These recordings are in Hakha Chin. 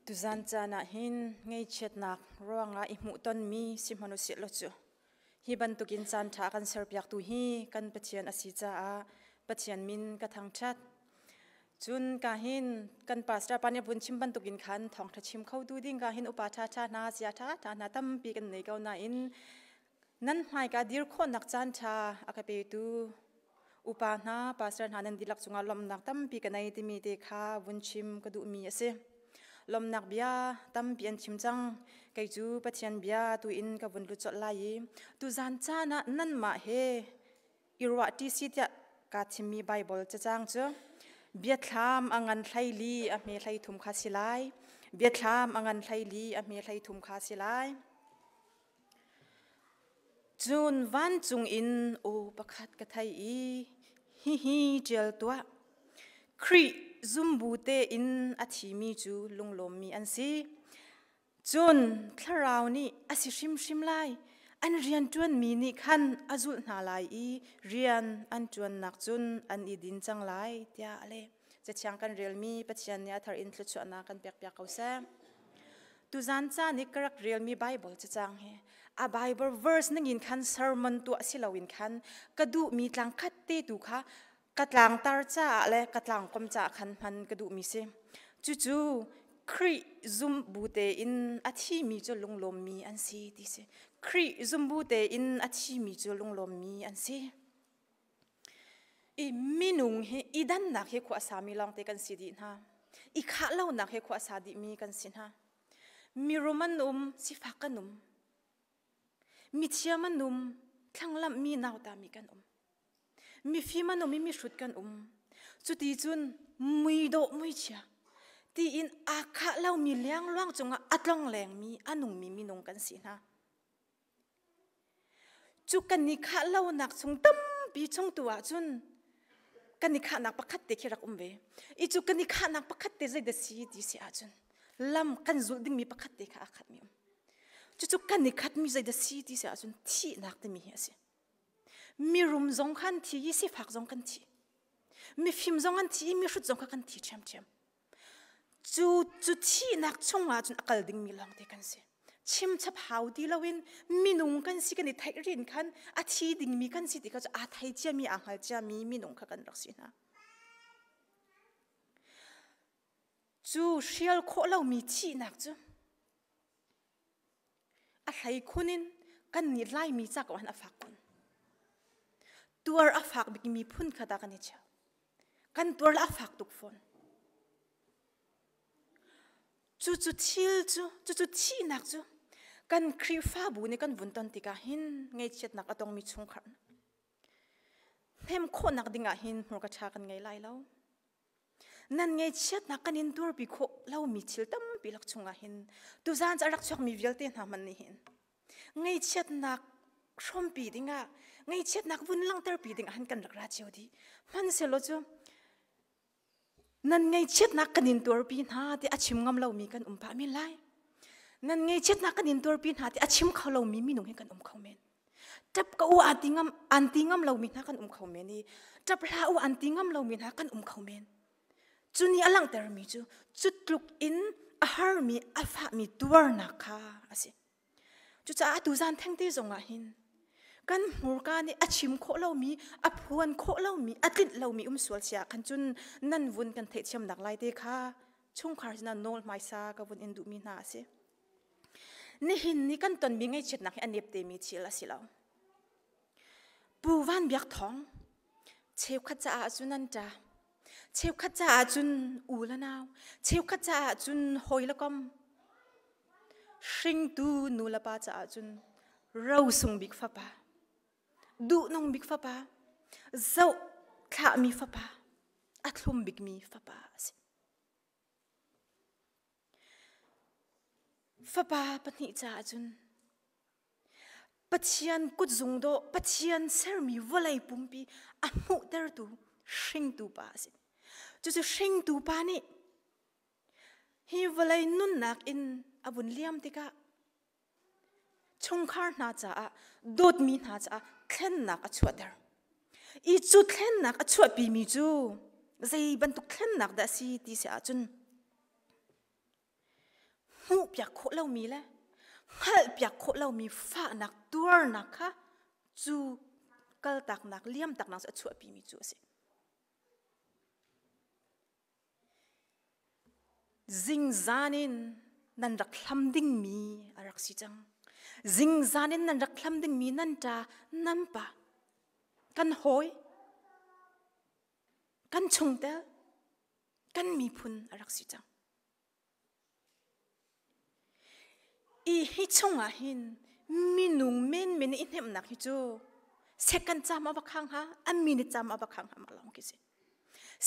Tuzan caan ah hin ngeichiatnak ruangah i hmuhtonmi sihmanhsehlaw cu hi bantukin caanṭha kan serpiaktu hi kan Pathian a si caah Pathian min ka thangṭhat. Cun ka hin kan pastor pa nih a vun chim bantukin khan thawngṭha chim khotu ding ka hin upa ṭhaṭha hna, sia ṭhaṭha hna tampi kan nei ko nain nan hmaika dir khawhnak caanṭha a ka petu upa hna pastor hna nan dihlak cungah lawmhnak tampi ka nei timi te kha vun chim ka duhmi a si lawmnak bia tampi an chim cang kei cu pathian bia tu in ka vun lut colh lai i tu zan caan ah nanmah he i ruah ṭi si tiah kaa thimmi baibal cacang cu biathlam a ngan hleili a hme hlei thum kha si lai biathlam a ngan hleili a hme hlei thum kha si lai Cun vancung in aw pakhat ka thei i, hihi ṭial tuah, Khrih zumbu tein a thimi cu lunglawmmi an si. Cun Thlarau nih a si hrimhrim lai, an rianṭuanmi nih khan a zulh hna lai i rian an ṭuannak cun an i din cang lai, tiah a leh. Cathiang kan relmi Pathian nih a thar in thluachuahnak kan pekpiak ko seh. Tuzan ca nih ka rak relmi Bible cacang hi a Bible verse ning in khan sermon tu si loin khan ka duhmi tlang khat te tu kha ka tlangtar caah le ka tlangkom caah khan hman ka duhmi si. Cucu Khrih zum bu tein a thimi cu lunglawmmi an si ti si. Khrih zum bu tein a thimi cu lunglawmmi an si. i minung hi i dannak hi khua sa mi lawngte kan si dih hna i khah lonak hi khua sa dih mi kan si hna mirum an um sifak kan um mithiam an um thlanglamh mi nauta mi kan um mifim an um i mihrut kan um cuti cun muidawh muichia tiin aa khah lo mi liangluang cungah a tlong leng mi a nung mi minung kan si hna Cu kan i khah lonak chung tampi chung tu ahcun kan i khahnak pakhat te khi rak um ve. I cu kan i khahnak pakhat te zei da si ti si ahcun lam kan zulh dingmi pakhat te kha aa khatmi um. Cucu kan i khatmi zei da si ti si ahcun thihnak timi hi a si. Mirum zong kha an thi i sifak zong kan thi. Mifim zong an thi i mihrut zong kha kan thi ṭhiamṭhiam. Cu cu thihnak chung ahcun a kal dingmi lawngte kan si. Chimchap hau ti loin minung kan si kan i theih rin khan a thi dingmi kan si ti kha cu aa thei ciami, aa hngal ciami minung kha kan rak si hna. Cu hrial khawh lomi thihnak cu A hlei khun in kan nih Laimi ca ko han a fak kun. Tuar a fak bikmi phun khat ah kan i cheu. Kan tuar la a fak tuk fawn. Cu cu thil cu, cu cu thihnak cu kan Khrihfabu nih kan vun ton tikah hin ngeichiatnak a tongmi chungkhar hnem khawhnak ding ah hin hmur ka ṭha kan ngei lai lo. nan ngeichiatnak kan in durpi khawh lomi thil tampi lak chungah hin tuzan cu a rak chuakmi vialte hna hman nih hin ngeichiatnak hrawmpi dingah ngeichiatnak vun langhterpi dingah han kan rak ra cio dih hmansehlaw cu nan ngeichiatnak kan in tuarpi hna ti a chim ngam lomi kan um pah men lai nan ngeichiatnak kan in tuarpi hna ti a chim kho lomi minung hi kan um kho men ṭap ka u an ti ngam an ti ngam lomi hna kan um kho men i ṭap hlah u an ti ngam lomi hna kan um kho men. Cu nih a langhtermi cu cu tluk in a harmi a fahmi tuarnak kha a si. Cucaah atu zan thengte zongah hin kan hmurka nih a chim khawh lomi a phuan khawh lomi a tlinh lomi um sual si ahkhan cun nan vun kan theithiamnak laite kha chungkhar sinah nawl hmaisa ka vun in duhmi hna a si. Nihin ni kan tonmi ngaihchiatnak hi a nep temi thil a si lo. Pu Van Biak Thawng cheukhat caah cun nan ṭa. Cheukhat caah cun u le nau. Cheukhat caah cun hawi le kom. Hringtu nu le pa caah cun rosung bik fapa. Duhnung bik fapa. Zoh thlahmi fapa. A thlum bikmi fapa a si. Fapa pahnih caah cun Pathian kutzung dawh Pathian sermi vawlei pumpi a hmuhtertu hringtu pa a si. Cucu hringtu pa nih hi vawlei nunnak in a vun liam tikah chungkhar hna caah dawtmi hna caah thlennak a chuahter i cu thlennak a chuahpimi cu zei bantuk thlennak dah a si ti si ahcun hmuhpiak khawh lomi le hngalhpiak khawh lomi fahnak tuarnak kha cu kaltaknak liamtaknak cu a chuahpimi cu a si Zingzan in nan rak hlam dingmi a rak si cang. Zingzan in nan rak hlam dingmi nan ṭa, nan pa, kan hawi, kan chungtel, kan miphun a rak si cang. Ih hi chungah hin minung menmen i hnemhnak hi cu second cam a va khang hna a minute cam a va khang hna ma lawng khi si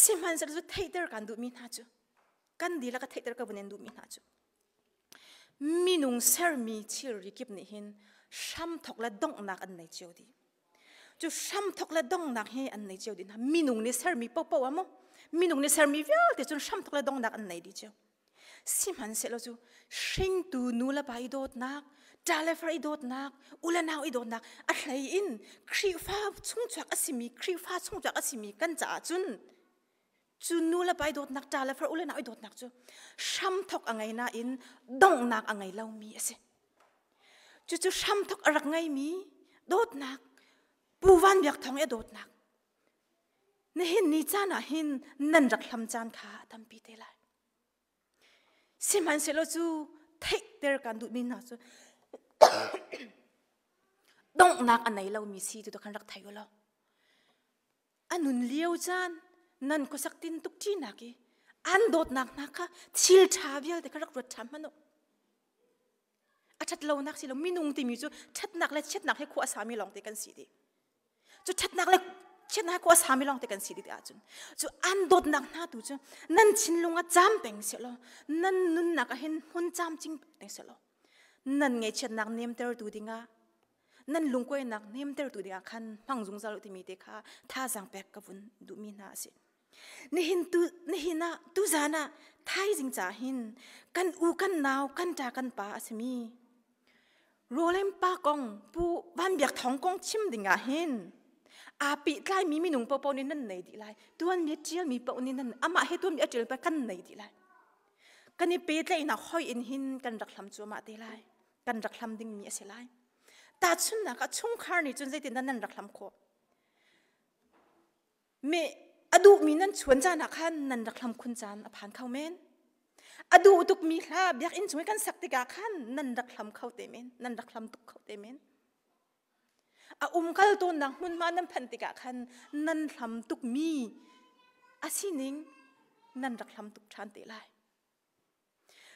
sihmanhsehlaw cu theihter kan duhmi hna cu kan dihlak a theihter ka vun in duhmi hna cu minung sermi thilri kip nih hin hramthok le donghnak an nei cio dih cu hramthok le dongnak hi an nei cio din minung nih sermi popo a mu minung nih sermi vialte cun hramthok le dongnak an nei di cio sihmanhsehlaw cu hringtu nu le pa i dawtnak talefar i dawtnak ulenau i dawtnak a hlei in khrihfa chungchuak a simi khrihfa chungchuak a simi kan caah cun cu nu le pai dawtnak ṭa le far ulenak i dawtnak cu hramthok a ngei nain donghnak a ngei lomi a si. Cucu hramthok a rak ngeimi dawtnak, Pu Van Biak Thawng i dawtnak. Nihin ni caan ah hin nan rak hlam caan kha a tampi te lai. Sihmanhsehlaw cu theihter kan duhmi hna cu donghnak a nei lomi si tu kan rak thei u law an un lio caan nan khuasak tin tuk ṭinak i an dawtnak hna kha thil ṭha vialte kha rak ruat ṭhan hmanh u a ṭhat lonak si lo minung timi cu ṭhatnak le chiatnak he khua a sami lawngte kan si dih cu ṭhatnak le chiatnak he khua a sami lawngte kan si dih ahcun cu an dawtnak hna tu cu nan thinlung ah cam peng selaw nan nunnak ah hin hun cam cing peng selaw nan ngaihchiatnak nemtertu dingah nan lungkuainak nemtertu dingah khan hmang zungzal u timi te kha thazang pek ka vun duhmi hna a si nihin tu nihin ah tuzan ah thaizing ca hin kan u kan nau kan ta kan pa a simi rolem pa kong pu banbiak thong kong chim dingah hin api tlai mi minung popo ni nan nei di lai tuan mi tial mi po ni nan ama he tuan mi atil pa kan nei di lai kan i pe tlai na hoi in hin kan rak hlam chu ma te lai kan rak hlam dingmi a si lai tahchunnak ah chungkhar nih cun zeitindah nan rak hlam khawh me a duhmi nan chuan caan ah khan nan rak hlam khun caan a phan kho men a duh tukmi hla biakinn chung i kan sak tikah khan nan rak hlam kho te men nan rak hlam tuk kho te men a umkal tawnnak hmunhma nan phanh tikah khan nan hlam tukmi a sining nan rak hlam tuk ṭhan te lai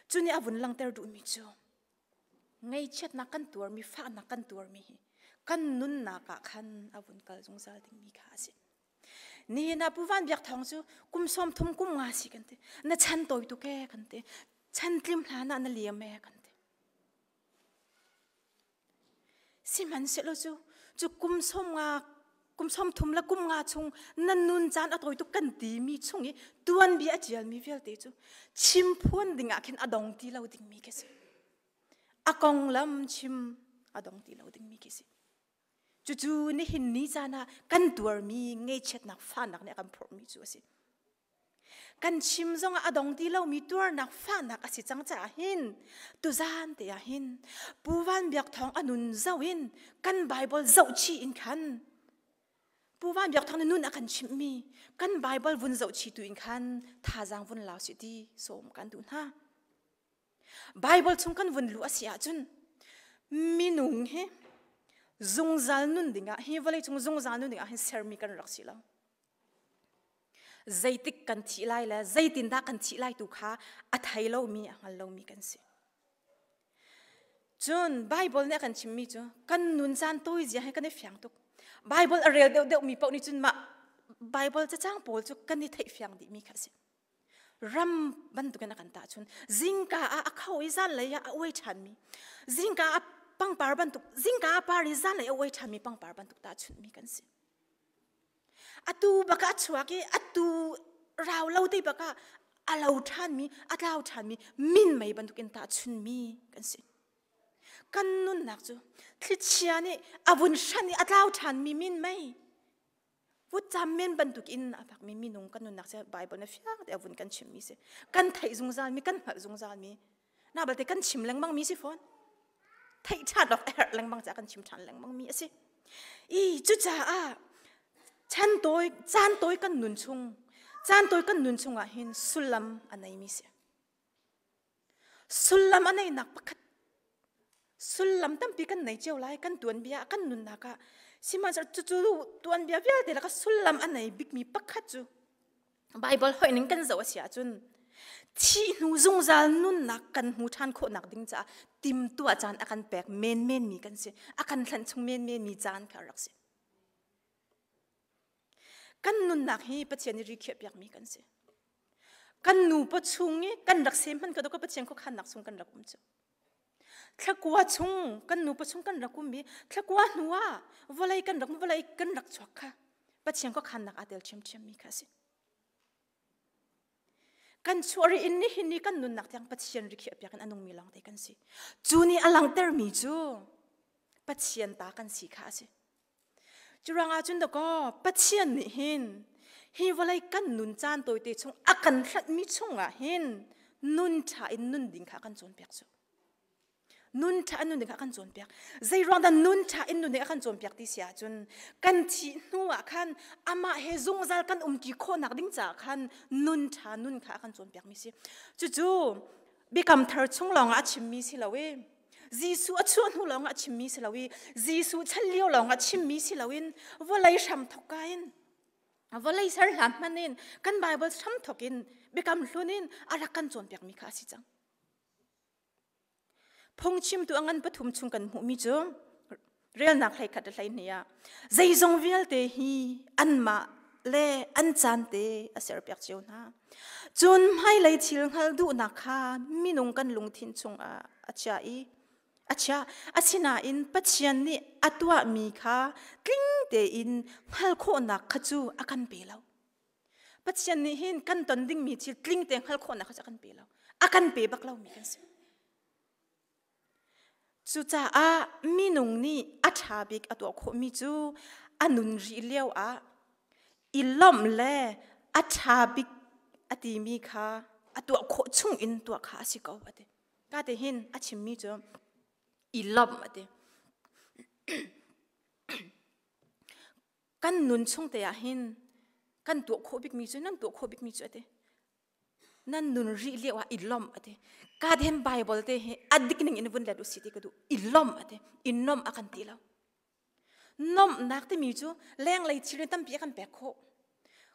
Cuni a vun langhter duhmi cu ngeichiatnak kan tuarmi, fahnak kan tuarmi hi kan nunnak ah khan a vun kal zungzal dingmi kha a si. Nihin ah Pu Van Biak Thawng cu kum sawm thum kum nga si kan ti. Na chan tawituk e kan ti. Chan tlim hlan ah na liam e kan ti. Sihmanhsehlaw cu, cu kum sawm nga, kum sawmthum le kum nga chung nan nun caan a tawi tuk kan timi chung i tuanbia a ṭialmi vialte cu chimphuan dingah khin a dong ti lo dingmi khi a si. A konglam chim a dong ti lo dingmi khi a si. Cucu nihin ni caan ah kan tuarmi ngeichiatnak fanak nih a kan phorhmi cu a si. Kan chim zong ah a dong ti lomi tuarnak fahnak a si cang caah hin tuzaan te ah hin Pu Van Biak Thawng a nun zoh in kan Bible zoh chih in khan Pu Van Biak Thawng nih nun a kan chimhmi kan Bible vun zoh chih tu in khan thazaang vun lau sih ti sawm kan duh hna. Bible chung kan vun luh a si ahcun minung hi zungzal nun dingah hi vawlei cung zungzal nun dingah hin sermi kan rak si lo. zeitik kan thih lai le zeitindah kan thih lai tu kha a thei lomi a hngal lomi kan si. Cun Bible nih a kan chimmi cu kan nun caan tuizia he kan i fiang tuk. Bible a rel deuhdeuhmi paoh nih cun mah Bible cacang pawl cu kan i theihfiang dihmi kha a si. Ram bantukin a kan tahchun. Zingka ah a kho i zanlei ah a uai ṭhanmi. Zingka ah pangpar bantuk, zingka ah par i zanlei a uai ṭhanmi pangpar bantuk tahchunhmi kan si. Atu bak ah a chuak i atu rau lo te bak ah a lo ṭhanmi, a tlau ṭhanmi, min mei bantuk in tah a chunmi kan si. Kan nunnak cu thlichia nih a vun hranh i a tlau ṭhanmi min mei, vutcam men bantuk in a fakmi minung kan nunnak cu Bible na fiang tein a vun kan chimhmi a si. Kan theih zungzalmi, kan hngalh zungzalmi na balte kan chim lengmang mi si fawn thei chat lok er lengmang cha kan chim than lengmang mi asi i cucaah chan toy chan toy kan nun chung chan toy kan nun chungah hin sullam anei mi si sullam anei nak pakhat sullam tampi kan nei cheu lai kan tuan bia kan nun naka sima chu chu tuan bia vialte laka sullam anei big mi pakhat chu Bible hoih ning kan zoh a si ahcun thih hnu zungzal nunnak kan hmu ṭhan khawhnak ding caah timtuah caan a kan pek menmen mi kan si a kan thlen chung menmen mi caan kha rak si kan nunnak hi Pathian i rikhiah piakmi kan si kan nu pa chung i kan rak sem hman ka ka Pathian kho khannak sung kan rak um cu Thlakua chung kan nupa chung kan rak um i thlakua hnu ah vawlei kan rak vawlei kan rak chuak kha Pathian ko khannak aa tel ṭhiamṭhiam mi kha a si. Kan chuah ri in nihin ni kan nunnak tiang Pathian ri khi a piak in a nungmi lawngte kan si. Cu nih a langhtermi cu Pathian ta kan si kha a si. Curang ahcun dakaw Pathian nih hin hi vawlei kan nun caan tawi te chung a kan hlatmi chungah hin nun ṭha in nun ding kha kan cawnpiak cu. Nun ṭha in nun ding kha kan cawnpiak. Zei ruang dah nun ṭha in nun ding a kan cawnpiak ti si ahcun kan thih hnu ah khan amah he zungzal kan um ti khawhnak ding caah khan nun ṭha nun kha a kan cawnpiakmi si. Cucu biakam thar chung lawng a chimmi si lo i Jesuh a chuah hnu lawng a chimmi si lo i Jesuh chan lio lawng a chimmi si lo in vawlei hram thokka in vawlei ser hlan hman in kan Bible hram thok in biakam hlun in alak kan cawnpiakmi kha a si cang phungchimtu angan pathum chung kan hmuhmi cu relnak hlei khat hlei ni ah zeizong vialte hi anmah le an caan te a ser piak cio hna cun hmailei thil hngal duhnak kha minung kan lungthin chungah a chia i a chia asinain pathian nih a tuahmi kha tling tein hngal khawhnak kha cu a kan pe lo pathian nih hin kan ton dingmi thil tling te hngal khawhnak kha cu a kan pe lo a kan pe bak lomi kan si Cucaah minung nih a ṭha bik a tuah khawhmi cu a nun rih lio ah i lawmh le a ṭha bik a timi kha a tuah khawh chung in tuah kha a si ko a ti. Ka ti hin a chimmi cu i lawmh a ti. Kan nun chung te ah hin kan tuah khawh bikmi cu nan tuah khawh bikmi cu a ti. nan nun ri lio ah i lawmh a ti ka den bible te hi a dik ning in vun let u si ti ka duh i lawmh a ti i nomh a kan ti lo nomhnak timi cu lenglei thil ri tampi a kan pek khawh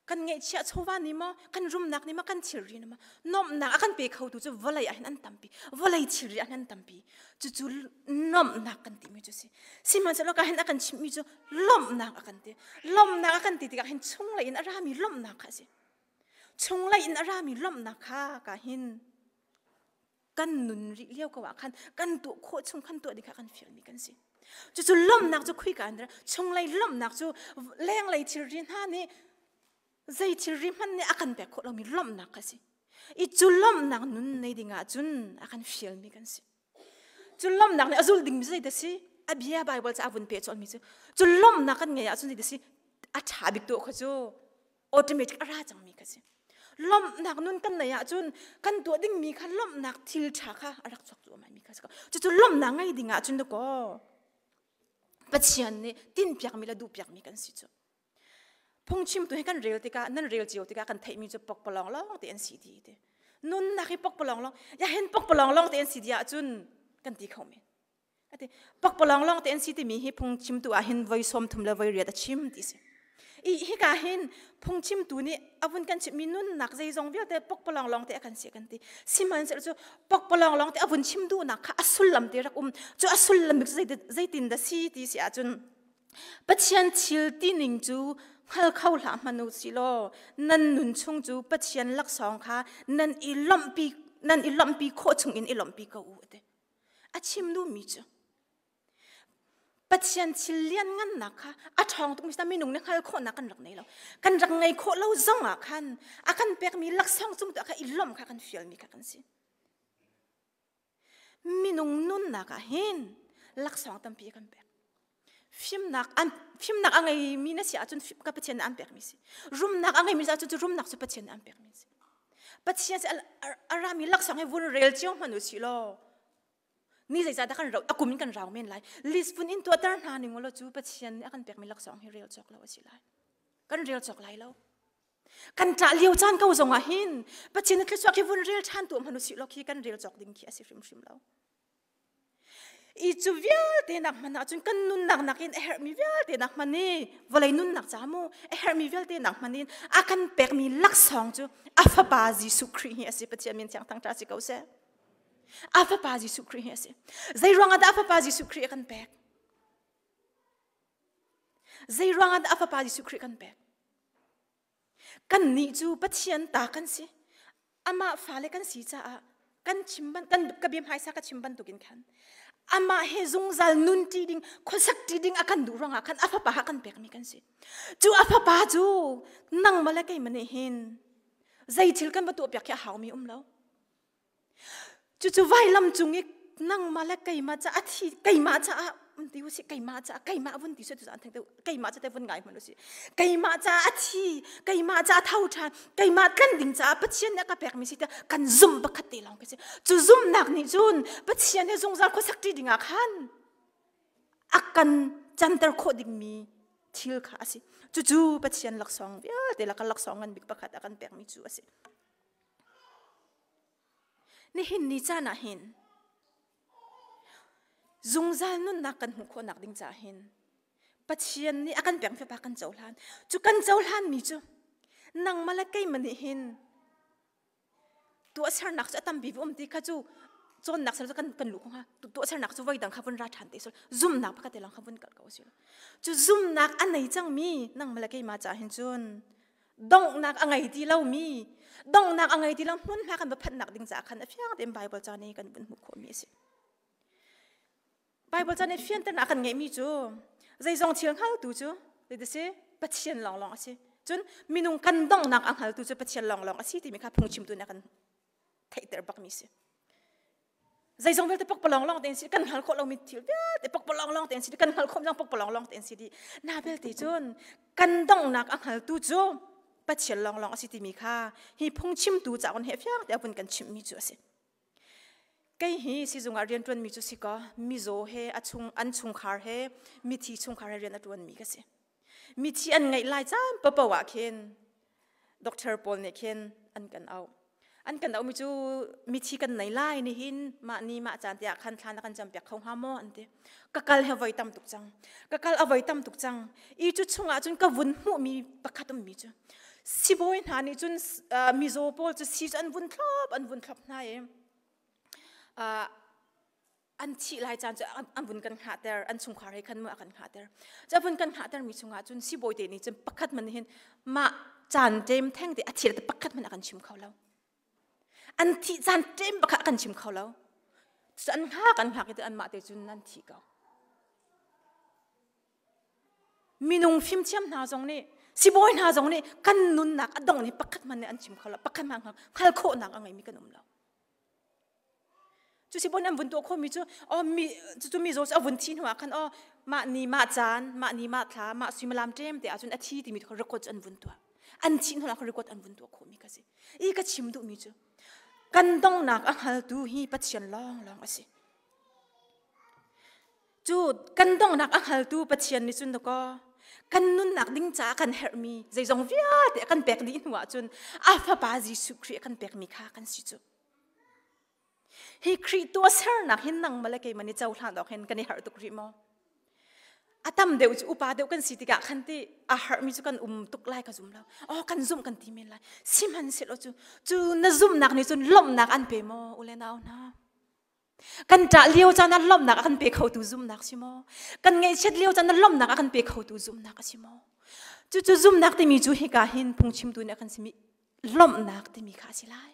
kan ngeihchiah chawva ni maw kan rumnak ni maw kan thilri ni maw nomhnak a kan pe kho tu cu vawlei ahhin an tampi vawlei thilri ahhin an tampi cucu nomhnak kan timi cu si sihmanhsehlaw ka hin a kan chimhmi cu lawmhnak a kan ti lawmhnak a kan ti tikah hin chunglei in a rami lawmhnak kha a si chunglei in a rami lawmhnak kha ka hin kan nun rih lio ko ah khan kan tuah khawh chung khan tuah ding kha kan fialmi kan si cucu lawmhnak cu khuika an chunglei lawmhnak cu lenglei thilri hna nih zei thilri hmanh nih a kan pek khawh lomi lawmhnak a si i cu lawmhnak nun nei ding ah cun a kan fialmi kan si Cun lawmhnak nih a zul dingmi cu si a bia Baibal ca a vun peh colmi cu cun lawmhnak kan ngei ahcun si a ṭha bik tu kha cu automatic a ra cangmi kha si lawmhnak nun kan neih ahcun kan tuah dingmi kha lawmhnak thil ṭha kha a rak chuak cuahmahmi kha si cucu lawmhnak ngei ding ahcun dakaw Pathian nih tinpiakmi le duhpiakmi kan si cu phungchim tu hi kan rel tikah nan rel cio tikah kan theihmi cu pokpalong lawng te an si ti ti nunnak hi pokpalong lawng ya hen pokpalong lawng te an si dia cun kan ti kho men ati pokpalong lawng te an si timi hi phungchim tu ah hin voi som thum le voi riat a chim ti si i hi ka hin phungchim tu nih avun kan chimmi nunnak zeizong vialte pokpalong lawng te akan si kan ti sihmanhsehlaw cu pokpalong lawng te avun chim duhnak kha a sullam te rak um cu a sullam cu zeitin dah si ti si ahcun Pathian thil tining cu hngal kho hlah hmanh u si law nan nun chung cu Pathian laksawng kha nan i lawmhpi nan i lawmhpi khawh chungin i lawmhpi ko u ati. A chim duhmi cu Pathian thil lianngannak kha a ṭhawng tuk mi si minung nih hngal khawhnak kan rak nei lo. Kan rak ngei khawh lo zong ah khan a kan pekmi laksawng cung tuah kha i lawmh kha kan fialmi kha kan si. Minung nunnak ah hin laksawng tampi kan pek. Fimnak an fimnak a ngeimi na si ahcun fim ka Pathian nih an pekmi si. Rumnak a ngeimi si ahcun cu rumnak cu Pathian nih an pekmi si. Pathian si a rami laksawng hi vun rel cio hmanh u si law ni zeizahdah kan rau a kum in kan rau men lai. Lisbon in tuahter hna ning ulaw cu Pathian nih a kan pekmi laksawng hi rel cawk lo a si lai. Kan rel cawk lai lo. kan ṭah lio caan ko zong ah hin Pathian na thluachuak hi vun rel ṭhan tu hmanu si law khi kan rel cawk ding khi a si hrimhrim lo i cu vialte nak hman ahcun kan nunnak nakin a herhmi vialte nak hman i vawlei nunnak ca mu a herhmi vialte nak hman in a kan pekmi laksawng cu a fapa Jesuh Khrih hi a si Pathian min thiang thang ṭa si ko seh a fapa Jesuh Khrih hi a si zei ruangah dah a fapa Jesuh Khrih a kan pek zei ruangah dah a fapa Jesuh Khrih kan pek Kannih cu Pathian ta kan si. Amah fale kan si caah kan chim ban kan ka bia hmaisa ka chim bantukin khan amah he zungzal nun ṭi ding khuasak ṭi ding a kan duh ruangah khan a fapa kan pekmi kan si. Cu a fapa cu nang male keimah nih hin zei thil kan va tuahpiak hi a haumi um lo. Cucu vailam cung i nangmah le keimah caah a thi keimah caah vun ti usih keimah caah keimah vun ti sut an thang tu keimah ca te vun ngai hman usih keimah caah a thi keimah caah tho ṭhan keimah tlan ding caah Pathian nih a ka pekmi si ta kan zumh pakhat te lawng ka si cu zumhnak nih cun Pathian he zungzal khuasak ṭi dingah khan a kan canter khawh dingmi thil kha a si cucu Pathian laksawng vialte lak laksawng ngan bik pakhat a kan pekmi cu a si Nihin ni caan ah hin zungzal nunnak kan hmuh khawhnak ding caah hin Pathian nih a kan pek fapa kan cohlan cu kan cohlan mi cu nangmah le keimah nih hin tuahsernak cu a tampi va um ti kha cu cawnnak sal kan kan lu kong ha tuahsernak cu voidang kha vun ra ṭhan te sol zumnak pakhat lang kha vun kalh ko sih cu zumnak a nei cangmi nangmah le keimah caah hin cun donghnak a ngei ti lomi donghnak a ngei ti lo hmunhma kan va phanhnak ding caah khan a fiang tein Bible ca nih kan vun hmuh khawhmi a si. Bible ca nih fianternak a kan ngeihmi cu zeizong thil hngaltu cu dit a si Pathian lawnglawng a si. Cun minung kan donghnak a hngaltu cu Pathian lawnglawng a si timi kha phungchimtu nih a kan theihter bakmi si zeizong vialte pakpalong long ten si kan hngal khawh lomi thil vialte pakpalong long ten si kan hngal khawh lo pakpalong long ten si di na belte cun kan donghnak a hngaltu cu pathian long long asi timi kha hi phungchimtu caon he fiang te abun kan chimmi cu asi kei hi sizung ah rian tuanmi cu si ko mizaw he a chung an chungkhar he mithi chungkhar he rian a tuanmi ka si mithi an ngeih lai caan papo ah khin doctor paul nih khin an kan auh an kan auhmi cu mithi kan nei lai ni hin mah ni mah caan tiah khan thla na kan cam piak kho hnga maw an ti ka kal he voi tam tuk cang ka kal a voi tam tuk cang i cu chungah cun ka vun hmuhmi pakhat ummi cu sibawi hna nih cun mizaw pawl cu si cu an vun thlop an vun thlop hna i an thih lai caan cu an vun kan hngah ter an chungkhar he khan ma a kan hngah ter cha vun kan hngah ter mi chungah cun sibawi te nih cun pakhat man hin mah caan ṭem theng te a thil te pakhat man a kan chim kho lo an thih caan ṭem bakha kan chim kho lo cu an hngak an hngak i te an mah te cun nan thi ko minung fimthiam hna zong nih sibawi hna zong nih kan nunnak a dong hi pakhat man nih an chim kho lo pakhat man hngal khawhnak a ngeimi kan um lo Cu si bon an vun tuah khomi cu oh mi cucu mi zaw cu a vun thi hnuah khan oh mah ni mah caan mah ni mah thla mah suimilam ṭem te ahcun a thi timi kha record cu an vun tuah an thi hnuah khan record an vun tuah khomi ka si i ka chim duhmi cu kan donghnak a hngaltu hi Pathian lawnglawng a si cu kan donghnak a hngaltu Pathian nih cun dakaw kan nunnak ding caah kan herhmi zeizong vialte a kan pek dih hnu ahcun a fapa Jesuh Khrih a kan pekmi kha kan si cu hi Khrih tuahsernak hin nangmah le keimah i cohlan awk hin kan i harh tuk rih maw a tam deuh cu upa deuh kan si tikah khan ti a harhmi cu kan um tuk lai ka zum lo aw kan zumh kan ti men lai sihmanhsehlaw cu cu na zumhnak nih cun lawmhnak an pe maw u le nau hna kan ṭah lio caan ah lawmhnak a kan pe khotu zumnak si maw kan ngaihchiat lio caan ah lawmhnak a kan pe khotu zumnak a si maw cucu zumnak timi cu hika hin phungchimtu nih a kan simi lawmhnak timi kha a si lai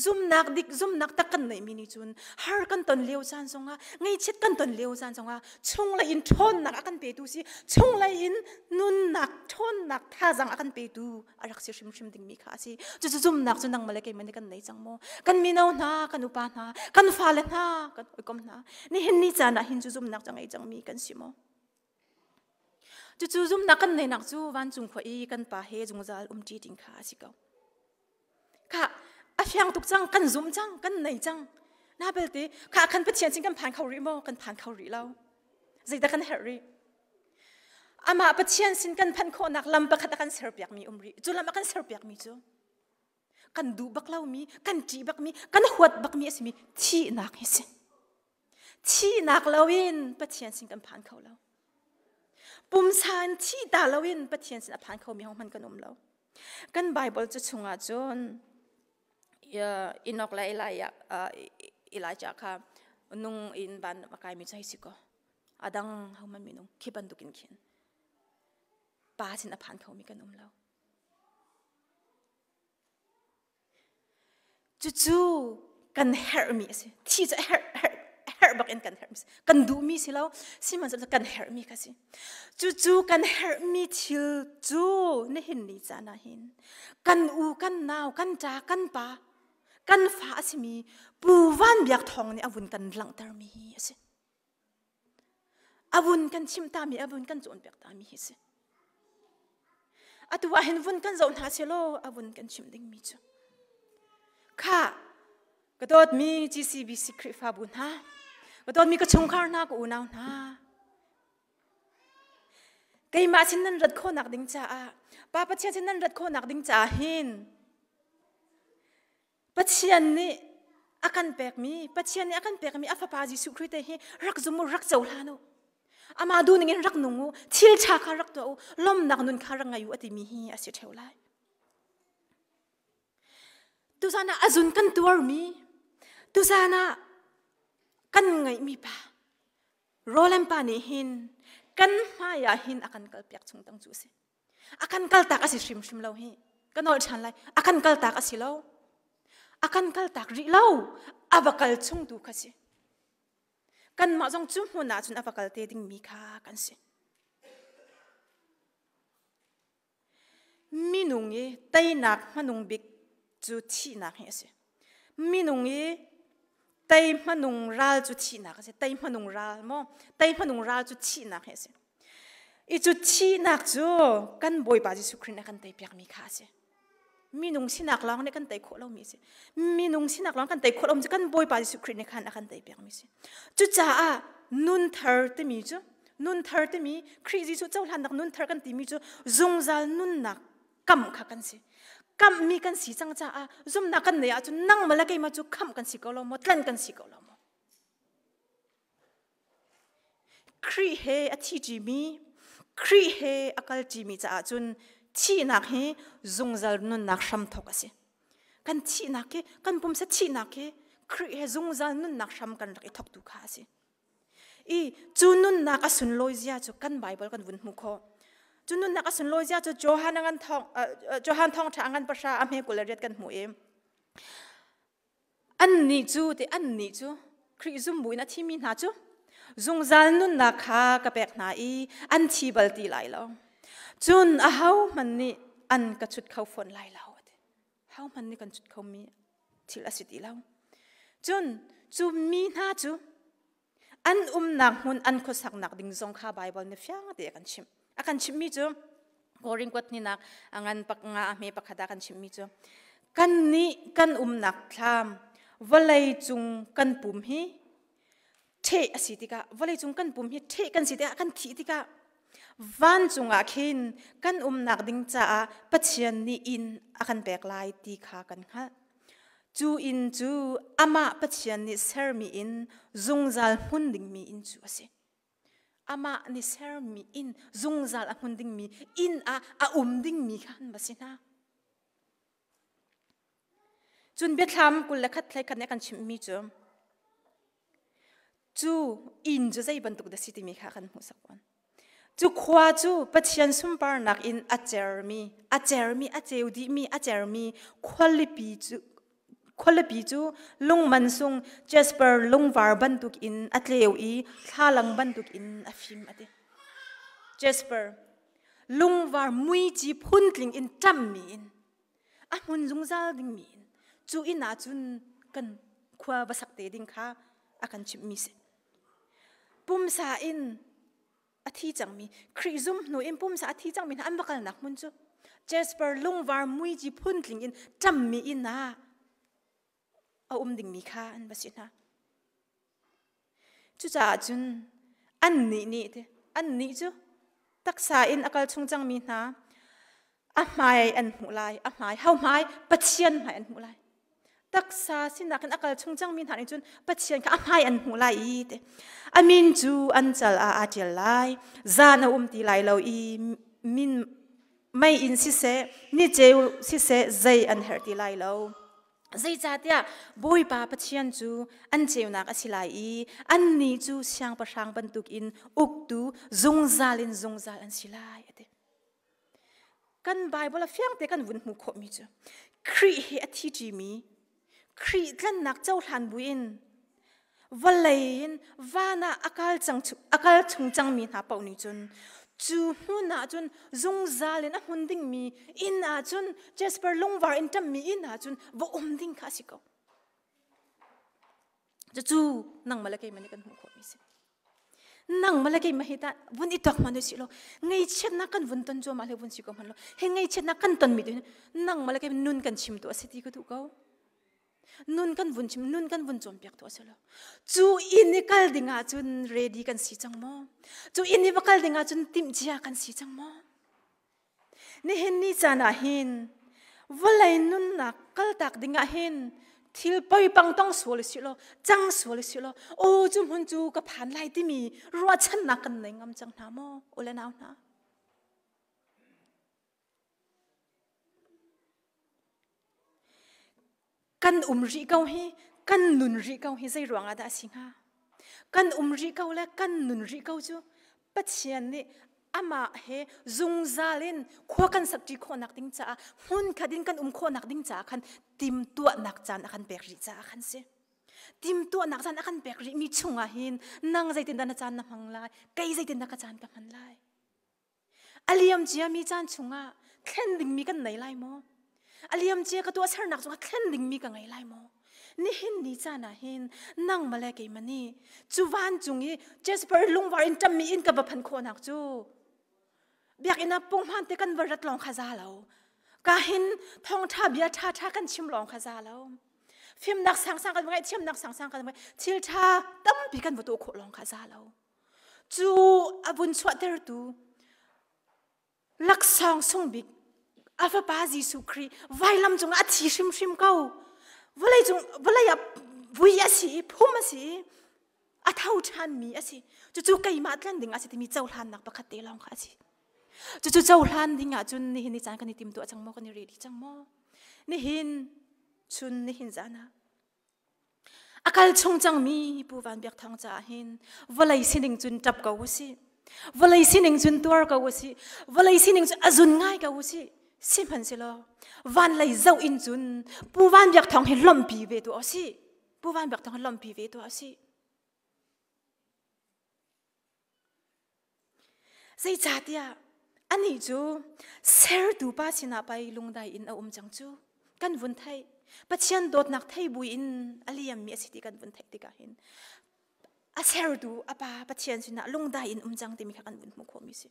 zumnak dik zumnak tak kan neihmi nih cun har kan ton lio caan zongah ngaihchiat kan ton lio caan zongah chunglei in ṭhawnnak a kan petu si chunglei in nunnak ṭhawnnak thazang a kan petu a rak si hrimhrim dingmi kha a si cucu zumnak cu nangmah le keimah nih kan nei cang maw kan mino hna kan upa hna kan fale hna kan oikom hna nihin ni caan ah hin cu zumnak cu ngei cangmi kan si maw cucu zumnak kan neinak cu vancung khua i kan pa he zungzal umṭi ding kha a si ko kha a fiang tuk cang kan zum cang kan nei cang na belte kha khan pathian sin kan phan kho rih maw kan phan kho rih lo zeidah kan herh rih Amah Pathian sin kan phanh khawhnak lam pakhat a kan serpiakmi um rih. Cu lam a kan serpiakmi cu kan duh bak lomi, kan ṭih bakmi, kan huat bakmi a simi thihnak hi si. Thihnak loin Pathian sin kan phan kho lo. Pumsa in thihta loin Pathian sin a phan khomi hohmanh kan um lo. Kan Bible cu chungah cun Enoch le Elijah kha nung in ban a kaimi cu hei si kaw, adang homan minung khi bantuk in khin pa sin aphan khomi kan um lo cucu kan herhmi a si thi cu herh herh herh bakin kan herhmi kan duhmi si lo sihmanhsehlaw kan herhmi kha si cucu kan herhmi thil cu nihin ni caan ah hin kan u kan nau kan ta kan pa kan fa a simi pu van biak thawng nih a vun kan langhtermi hi a si Avun kan chim tami, avun kan cawnpiak tami hi si. Atu ahhin vun kan zoh hna selaw avun kan chim dingmi cu. Kha ka dawtmi GCBC Khrihfabu hna, ka dawtmi ka chungkhar hna, ka unau hna. Keimah sin nan rat khawnak ding caah, Pa Pathian sin nan rat khawnak ding caah hin Pathian nih a kan pekmi Pathian nih a kan pekmi a fapa Jesuh Khrih te hi rak zum u rak cohlan u amah duhning in rak nung u thil ṭha kha rak tuah u lawmnak nun kha rak ngei u a timi hi a si ṭheo lai tuzan ah a zun kan tuarmi tuzan ah kan ngeihmi pa Roland pa nih hin kan hmai ah hin a kan kalpiak chung tang cu a si akan kaltak asi hrimhrim lo hi ka nawl ṭhan lai akan kaltak asi lo akan kaltak rih lo ava kal chung tu kha si kanmah zong cu hmun ah cun ava kal te dingmi kha kan si minung i teinak hmanung bik cu thihnak hi asi minung i tei hmanung ral cu thihnak a si tei hmanung ral maw tei hmanung ral cu thihnak hi a si i cu thihnak cu kan bawipa jesuh khrist nih kan tei piakmi kha a si minung sinak lawng nih kan tei khawh lomi a si minung sinak lawng kan tei khawh lomi cu kan bawipa jesuh khrist nih khan a kan tei piakmi a si cucaah nun thar timi cu nun thar timi khrih jesuh cohlannak nun thar kan timi cu zungzal nunnak kam kha kan si kam mi kan si cang caah zumnak kan nei ahcun nang mala keima cu kham kan si ko lo maw tlan kan si ko lo maw Khrih he a thi ṭimi Khrih he a kal ṭimi caah cun thihnak hi zungzal nunnak hramthok a si kan thihnak hi kan pumsa thihnak hi Khrih he zungzal nunnak hram kan rak i thoktu kha a si I cu nunnak a sunlawi zia cu kan Bible kan vun hmu kho. Cu nunnak a sunlawi zia cu Johan ngan thong Johan thong tha ngan pahra a hme kul le riat kan hmu i an nih cu te an nih cu Khrih zumbu in a thimi hna cu zungzal nunnak kha ka pek hna i an thi bal ti lai lo. Cun a hohmanh nih an ka chut kho fawn lai lo. hohmanh nih kan cut khomi thil a si ti lo. Cun cu mi hna cu an umnak hmun an khuasaknak ding zong kha Baibal nih fiang te a kan chimh. A kan chimhmi cu Korinth hninak a ngan pak nga a hme pakhat a kan chimhmi cu kan nih kan umnak thlam vawlei cung kan pum hi ṭheh a si tikah vawleicung kan pum hi ṭheh kan si tikah kan thih tikah vancung ah khin kan umnak ding caah Pathian nih inn a kan pek lai ti kha kan hngalh. Cu inn cu amah Pathian nih sermi inn zungzal hmun dingmi inn cu a si. Amah nih sermi inn zungzal a hmun dingmi inn ah a um dingmi kha an va si hna. Cun biathlam kul le khat hlei khat nih a kan chimhmi cu cu inn cu zei bantuk dah si timi kha kan hmuhsak fawn. Cu khua cu Pathian sunparnak in a cermi, a cermi, a ceu dihmi, a cermi khualipi cu khualipi cu lungman sung jasper lungvar bantuk in a tleu i thlalang bantuk in a fim a ti. Jasper lungvar muici phun tling in ṭam mi in a hmun zungzal ding mi in cu inn ah cun kan khua va sak te ding kha a kan chimh mi si pumsa in a thi cangmi Khrih zum hnu in pumsa a thi cangmi hna an va kalnak hmun cu Jasper lungvar muici phun tling in ṭam mi inn ah a um dingmi kha an va si hna. Cucaah cun annih nih annih cu taksa in a kal chung cangmi hna a hmai an hmuh lai, a hmai, hauhmai, Pathian hmai an hmuh lai. Taksa sinak in a kal chung cangmi hna nih cun Pathian kha a hmai an hmuh lai i te a min cu an cal ah aa ṭial lai. Zan a um ti lai lo i min mei in siseh ni ceu siseh zei an herh ti lai lo zeicahtiah bawipa pathian cu an ceunak a si lai i an ni cu siangpahrang bantuk in uktu zungzal in zungzal an si lai a ti kan bible a fiang te kan vun hmuh khawhmi cu khrih hi a thi ṭimi Khrih tlannak cohlan buin vawlei in van ah a kal cang a kal chung cangmi hna paoh nih cun cu hmun ah cun zungzal in a hmun dingmi inn ah cun Jasper lungvar in ṭammi inn ah cun va um ding kha a si ko. cucu nang mala keima nih kan hmuh khawhmi si nang mala keima hi ta vun itak ma si lo ngei chiatnak kan vun ton zuwa ma le vun si ko man lo he ngei chiatnak kan ton mi din nang mala keima nun kan chim tu asi ti ka tu ko nun kan vun chim nun kan vun chom piak tu asilo chu in ni kal dinga chun ready kan si chang mo chu in ni va kal dinga chun tim chia kan si chang mo Nihin ni caan ah hin vawlei nunnak kaltak dingah hin thil poipang tong sual si law cang sual si law aw cu hmun cu ka phan lai timi ruahchannak kan nei ngam cang hna maw ule nau hna kan um rih ko hi kan nun rih ko hi zei ruang ah dah a si hnga kan um rih ko le kan nun rih ko cu pathian nih amah he zungzal in khua kan sakṭi khawhnak ding caah hmun khat in kan um khawhnak ding caah khan timtuahnak caan a kan pek rih caah khan si timtuahnak caan a kan pek rih mi chung ah hin nang zeitindah na caan na hmang lai kei zeitindah ka caan ka hman lai A liam ciami caan chungah thlen dingmi kan nei lai maw? A liam cia ka tuahsernak cungah thlen dingmi ka ngei lai maw? Nihin ni caan ah hin nangmah le keimah nih cu vancung i Jasper lungvar in ṭammi inn ka va phanh khawhnak cu Biakinn ah punghman te kan va rat lawng kha za lo. Ka hin thawngṭha bia ṭhaṭha kan chim lawng kha za lo. Fimnak sangsang kan va ngeih, thiamnak sangsang kan va ngeih, thil ṭha tampi kan va tuah khawh lawng kha za lo. cu a vun chuahtertu laksawng sung bik a fapa Jesuh Khrih vailam cungah a thi hrimhrim ko vawlei cung vawlei ah vui a si i phum a si i a tho ṭhanmi a si cucu keimah tlanh ding a si timi cohlannak pakhat te lawng kha a si cucu cohlan ding ah cun nihin ni caan kan i tim tuah cang maw kan i reh dih cang maw nihin chun nihin zan ah A kal chung cangmi Pu Van Biak Thang caah hin vawlei sining cun ṭap ko u sih. Vawlei sining cun tuar ko u sih. Vawlei sining cu a zun ngai ko u sih. Sihmanhsehlaw van lei zoh in cun Pu Van Biak Thang hi lawmhpi ve tuah u sih. Pu Van Biak Thang hi lawmhpi ve tuah u sih. Zeicahtiah anih cu sertu pa sinah pei lungdai in a um cang cu. Kan vun theih. Pathian dawtnak thei buin a liammi a si ti kan vun theih tikah hin a sertu a pa Pathian sinah lungdai in um cang timi kha kan vun hmuh khawhmi a si.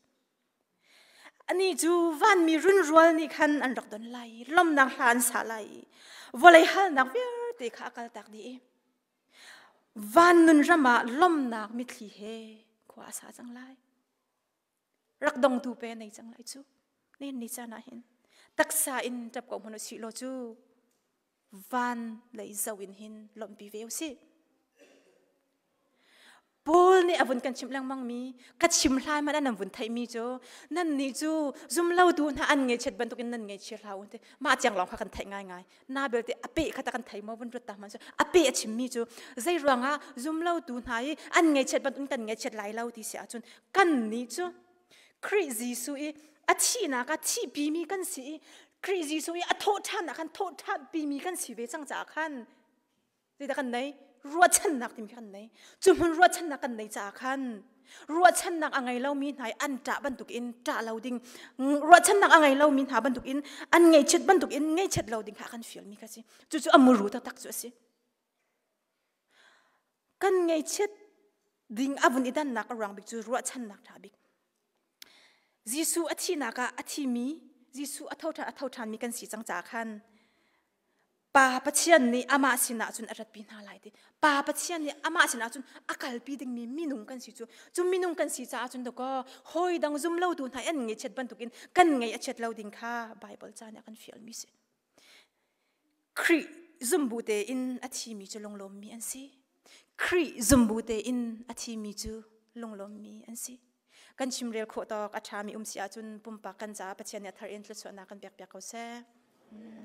Anih cu vanmi runrual nih khan an rak don lai i lawmnak hla an sa lai i vawlei halnak vialte kha a kaltak dih i Van nunram ah lomnak mitthli he khua a sa cang lai. Rak dongtu pe nei cang lai cu. Ne ni chan ah hin taksa in tap ko hmun si lo cu van lei zo in hin lompi ve u si. Paul nih a vun kan chimh lengmang mi ka chim hlai man an vun theih mi cu nan nih cu zumlo tu hna an ngeichiat bantuk in nan ngeichia hlah u ti mah tiang lawng kha kan theih ngai ngai na belte a pe kha ta kan thei mo vun rut ta man cu a pe a chim mi cu zei ruangah zumlo tu hna i an ngeichiat bantuk kan ngeichiat lai lo ti si ahcun kan nih cu Khrih Jesuh i a thihnak a thihpi mi kan si i Khrih Jesuh i a thawh ṭhan ah khan thawh ṭhan pi mi kan si ve cang caah khan Zeidah kan nei? Ruahchannak timi kan nei. Cu hmun ruahchannak kan nei caah khan ruahchannak a ngei lomi hna i an ṭah bantuk in ṭah lo ding, ruahchannak a ngei lomi hna bantuk in an ngeichiat bantuk in ngeichiat lo ding kha a kan fialmi kha a si. Cucu a muru taktak cu a si. Kan ngeichiat ding a vun i dannak a ruang bik cu ruahchannak ṭha bik. Jesuh a thihnak ah a thimi, Jesuh a thoṭhan a thoṭhanmi kan si cang caah khan Pa Pathian nih amah sinah cun a ratpi hna lai ti. Pa Pathian nih amah sinah cun a kalpi dingmi minung kan si cu. Cu minung kan si caah cun dakaw hawi dang zumlotu hna an ngeihchiat bantukin kan ngei a chiat lo ding kha Baibal ca nih a kan fialmi si. Khrih zumbu tein a thimi cu lunglawmmi an si. Khrih zumbu tein a thimi cu lunglawmmi an si. Kan chimrel khawh tawk a ṭhami um si ahcun pumpak kan caah Pathian nih a thar in thluachuahnak kan pekpiak ko seh. Mm.